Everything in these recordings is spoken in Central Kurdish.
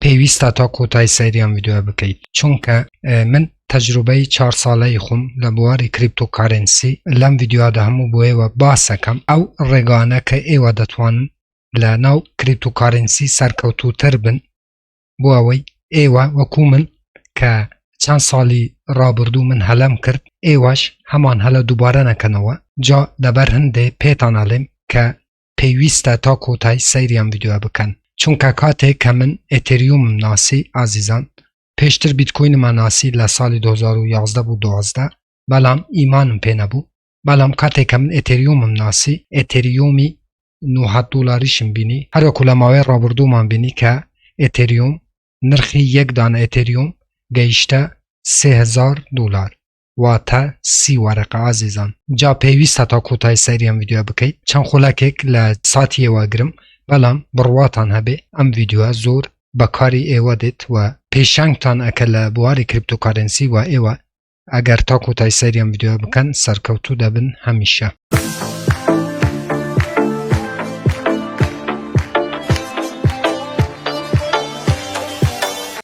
پێویستە تا کۆتای سەیری ئەم ڤیدیۆ بکەیت چونکە من تەجروبەی چهار ساڵەی خۆم لە بواری کریپتۆکارنسی لەم ڤیددیودا هەموو بۆیەوە باسەکەم ئەو ڕێگانە کە ئێوە دەتوان لە ناو کریپتۆکارنسی سەرکەوتوتر بن بۆ ئەوەی ئێوە وەکو من کە چەند ساڵی ڕابردوو من هەلم کرد ئێوەش هەمان هەلە دووبارە نەکەنەوە جا لەبەر هەندێ پێتانەڵێم کە پێویستە تا کۆتایی سەیری ئەم ڤیدیۆیە بکەن چونکە کاتێک کە من ئێتێریومم ناسی ئازیزان پێشتر بیتکۆینمە ناسی لە ساڵی 2011 بوو 12 بەڵام ئیمانم پێ نەبوو بەڵام کاتێک کە من ئێتێریومم ناسی ئێتێریومی 900 دلاریشم بینی هەروەکو لە ماوەی ڕابردوومان بینی کە ئێتێریوم نرخی یەک دانە ئێتێریوم گەیشتە 3000 دلار واتە سی وەرەقە ئازیزان جا پێویستە تا کۆتای سەریان یددیو بکەیت چەند خولەکێک لە ساتی ئێوەگرم بەڵام بڕواتان هەبێ ئەم یددیوە زۆر بەکاری ئێوە دێت و پێشنگتان ئەکە لە بواری کریپتۆکارنسی و ئێوە ئەگەر تا کۆتای سەریان یددیو بکەن سەرکەوتو دەبن هەمیشە.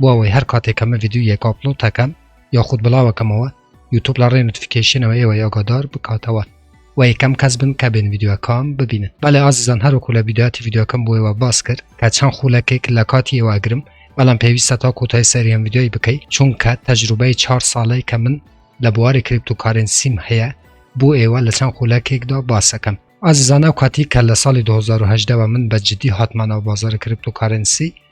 بۆ ئەوەی هەر کاتێک کەمە ڤیددیو یەک ئاپلۆ تاکەم یاخود بڵاوەکەمەوە یوتوب لە ڕێ نوتفیکیشنەوە ئێوە یاگادار بکاتەوە و یەکەم کەس بن کە بێن ڤیددیوەکان ببینن بەڵێ ئازیزان هەروەکو لە ڤیددیوهاتی ڤیددیوەکەم بۆیەوە باس کرد کە چەند خولەکێک لە کاتی ئێوە ئەگرم بەڵام پێویستە تا کۆتای سەریان ڤیددیۆی بکەیت چونکە تەجروبەی چهار ساڵەی کە من لە بواری کریپتوکارنسیم هەیە بۆ ئێوە لە چەند خولەکێکدا باسەکەم ئازیزانە و کاتی کە لە ساڵی 2010ەوە من بە جددی هاتمانەوە بازار کریپتوکارنسی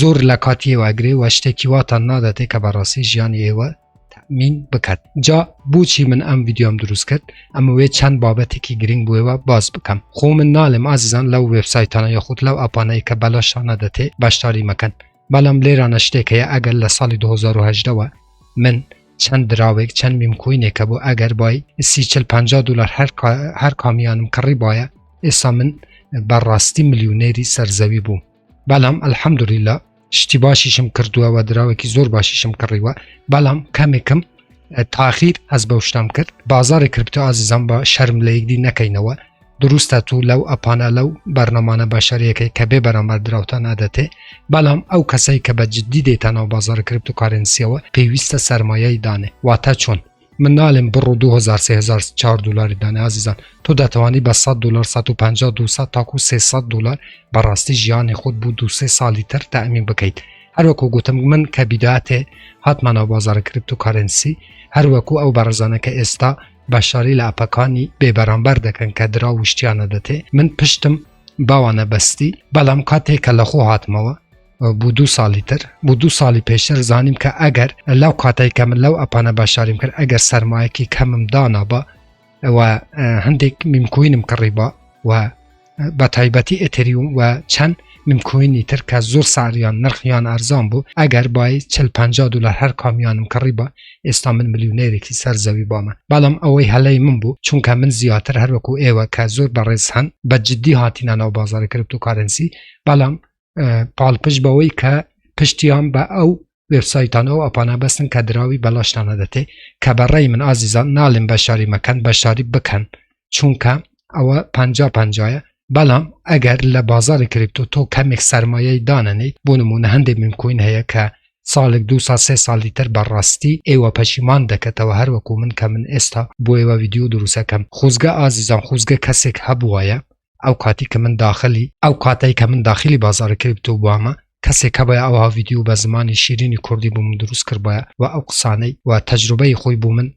زۆر لە کاتی ئێوە ئەگرێ و شتێکی واتان ناداتێ کە بەڕاستی ژیانی ئێوە تەمین بکات جا بۆچی من ئەم ڤیددیۆم دروست کرد ئەمەوێت چەند بابەتێکی گرنگ بۆێەوە باز بکەم خۆ من نالێم ئازیزان لەو وبسایتانە یاخود لەو ئەپانەیە کە بەلاشانە دەتێ بەشداری مەکەن بەڵام لێرانە شتێک هەیە ئەگەر لە ساڵی 2010ەوە من چەند دراوێک چەند میمکوینێکە بۆ ئەگەر بای سی چل پ دلار هەر کامیانم کڕی باە ئێستا من بەڕاستی ملیونێری سەرزەوی بوو بەڵام ئەلحەمدوریلا شتی باشیشم کردووە و دراوێکی زۆر باشیشم کڕیوە بەڵام کەمێکم تاخیر ئەس بە شتام کرد بازاری کرپتۆ ئازیزان بە شەرم لە یەکدی نەکەینەوە دروستە تو لەو ئەپانە لەو بەرنەمانە بەشارەکەی کە بێ بەرامبەر دراوتان ئەدەتێ بەڵام ئەو کەسەی کە بە جددی دێتانەوە بازار کرپتو کارنسیەوە پێویستە سەرمایەی دانێ واتە چۆن من نالێم بڕو 2000 سهزار دلاری دانێ ئازیزان تۆ دەتوانی بە 100 دلار 150 200 تاکو 300 دلار بەڕاستی ژیانی خۆت بوو دو سێ ساڵی تر تامین بکەیت هەروەکو گوتم من کە بیداتێ هاتمانەوە بازارە کرپت و کارنسی هەروەکو ئەو بەڕزانە کە ئێستا بەشاری لە ئەپەکانی بێبەرامبەر دەکەن کە درا وشتیانە دەتێ من پشتم باوانە بەستی بەڵام کاتێک کە لەخۆ هاتمەوە بوو دوو ساڵی تر بوو دوو ساڵی پێشتر زانیم کە ئەگەر لەو کاتای کە من لەو ئەپانە باشاریم کرد ئەگەر سەرمایەکی کەمم دانابا ئەوە هەندێک میمکوینم کڕی بە و بە تایبەتی ئەتریوم و چەند ممکوینی تر کە زۆر ساریان نرخیان ئەرزان بوو ئەگەر بای چل پ دلار هەر کامیانم کڕی بە ئێستا من ملیونێرێکی سەر زەوی بامە بەڵام ئەوەی هەلەی من بوو چونکە من زیاتر هەروەکو ئێوە کە زۆر بەڕێز هەن بە جددی هاتیینە ناو بازارە کرپت و کارنسی بەڵام پاڵپشت بەوەی کە پشتیان بە ئەو وێبسایتان ئەو ئەپانە بەستن کە دراوی بەلاشتانە دەتێ کە بەڕێی من ئازیزان ناڵم بە شاری مەکەن بە شاری بکەن چونکە ئەوە پ پنجایە بەڵام ئەگەر لە بازاری کریپتۆ تۆ کەمێک سرمایەی دانەنیت بۆ نمونە هەندێک منکوین هەیە کە ساڵێک دو سا سێ ساڵی تر بەڕاستی ئێوە پەشیمان دەکەتەوە هەروەکو من کە من ئێستا بۆ ئێوە ویددیو دروستەکەم خوزگە ئازیزان خوزگە کەسێک هەبووایە ئەو کاتی کە من داخلی ئەو کاتەی کە من داخلی بازاری کریپتۆ بوومە کەسێک هەبە ئەوها ڤیددیو بە زمانی شیرینی کوردی بوو من دروست کردبە و ئەو قسانەی و تەجروبەی خۆی بوو من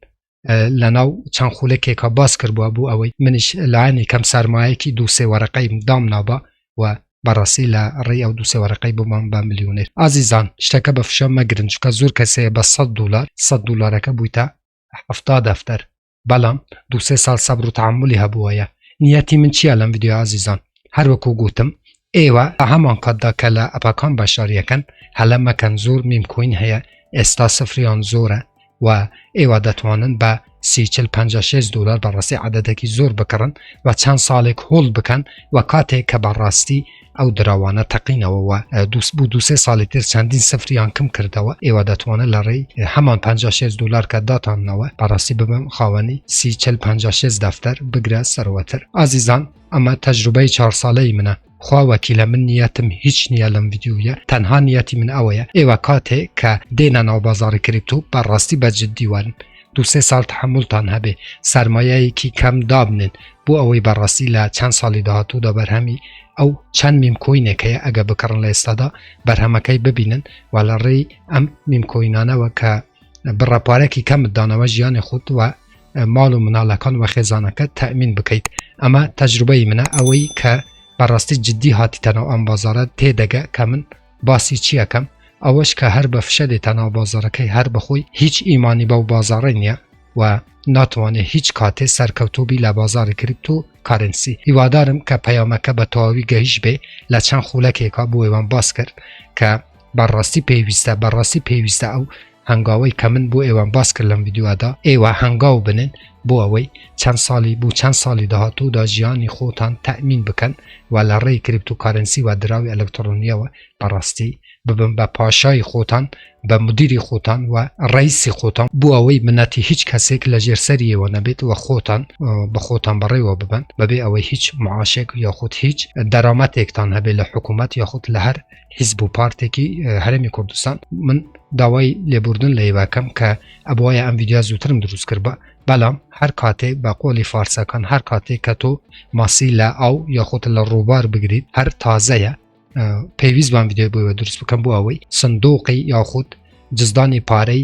لە ناو چەند خولەکێکە باس کردبووە بوو ئەوەی منش لایەنی کەم سەرمایەکی دوو سێ وەرەقەی دام نابە و بەڕاستی لە ڕێی ئەو دوو سێوەرەقەی بمان بە ملیونێر ئازیزان شتەکە بە فشە مەگرن چکە زۆر کەسەیە بە 100 دلار 100 دلارەکە بوویتە هەفتا دەفتەر بەڵام دوسێ ساڵ سەبر و تعملی هەبووەیە نیەتی من چییە لەم یددیو ئازیزان هەروەکو گوتم ئێوە بە هەمان کاتدا کە لە ئەپەکان بەشداریەکەن هەلە مەکەن زۆر میمکوین هەیە ئێستا سفریان زۆرە و ئێوە دەتوانن بە سیچل 56 دلار بەڕاستی عادەتێکی زۆر بکڕن و چەند ساڵێک هۆڵ بکەن و کاتێک کە بەڕاستی ئەو دراوانە تەقینەوە و دووس بوو دوسێ ساڵی تر چەندین سفریان کم کردەوە ئێوە دەتوانن لە ڕێی هەمان 56 دلار کە داتانەوە بەڕاستی ببم خاوەنی سی چل 56 دەفتەر بگرە سەروەتر ئازیزان ئەمە تەجروبەی چهار ساڵەی منە خوا وەکیلە من نیەتم هیچ نییە لەم یددیوە تەنها نیەتی من ئەوەیە ئێوە کاتێ کە دێنە ناو بازاری کریپتو بەڕاستی بە جددیوان دوو سێ ساڵ تحملتان هەبێ سەرمایەیەکی کەم دابنێن بۆ ئەوەی بەڕاستی لە چەند ساڵی داهاتوودا بەرهەمی ئەو چەند میمکۆینێکەیە ئەگە بکڕن لە ئێستادا بەرهەمەکەی ببینن و لە ڕێی ئەم میمکۆینانەوە کە بڕە پارێکی کەمت دانەوە ژیانی خۆت وە ماڵ و مناڵەکان وە خێزانەکە تەمین بکەیت ئەمە تەجروبەی منە ئەوەی کە بەڕاستی جددی هاتیتەنەوە ئەم بازارە تێدەگە کە من باسی چی ئەکەم ئەوەش کە هەر بە فشە دێتە ناو بازاڕەکەی هەر بەخۆی هیچ ئیمانی بەو بازاڕی نییە و ناتوانێت هیچ کاتێ سەرکەوتوبی لە بازاری کریپتۆ کارنسی هیوادارم کە پەیامەکە بە تەواوی گەیش بێ لە چەند خولەکێکا بۆێوان باس کرد کە بەڕاستی پێویستە بەڕاستی پێویستە ئەو هەنگاوەی کە من بۆ ئێوەم باس کرد لەم ڤیدیۆدا ئێوە هەنگاو بنن بۆ ئەوەی چەند ساڵی بوو چەند ساڵی داهاتوودا ژیانی خۆتان تەمین بکەن و لە ڕێی کریپت و کارەنسی و دراوی ئەلکترۆنیەوە بەڕاستی ببن بە پاشای خۆتان بە مدیری خۆتان و ڕیسی خۆتان بۆ ئەوەی منەتی هیچ کەسێک لە ژێر سەریەوە نەبێت و خۆتان بە خۆتان بەڕێوە ببن بەبێ ئەوەی هیچ معاشێک یاخود هیچ دەرامەتێکتان هەبێت لە حکوومەت یاخود لە هەر حیزب و پارتێکی هەرمی کوردستان من داوای لێبوردن لە یواکەم کە ئەبواە ئەم ویدیا زووترم دروست کرد بە بەڵام هەر کاتێک بە قۆلی فارسەکان هەر کاتێک کە تۆ ماسی لە ئاو یاخۆت لە ڕووبار بگریت هەر تازەیە پێویست بان ویددیو بۆەوە دروست بکەم بۆ ئەوەی سندۆقی یاخود جزدانی پارەی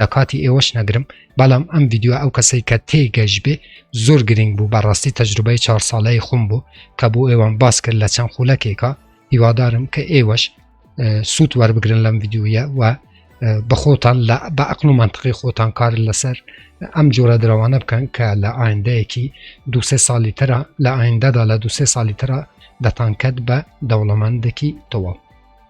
لە کاتی ئێوەش نەگرم بەڵام ئەم ڤیددیو ئەو کەسەی کە تێی گەشتبێ زۆر گرنگ بوو بەڕاستی تەجروبەی چهار ساڵەی خۆم بوو کە بۆ ئێوەم باس کرد لە چەند خولەکێکە هیوادارم کە ئێوەش سوود وەربگرن لەم ڤیددیویە و بەخۆتان لە بە ئەقل و منطقی خۆتان کار لەسەر ئەم جۆرە درەوانە بکەن کە لە ئایندەیەکی دوسێ ساڵی ترە لە ئایندەدا لە دوسێ ساڵی ترە دەتانکەت بە دەوڵەمەندێکی تەواو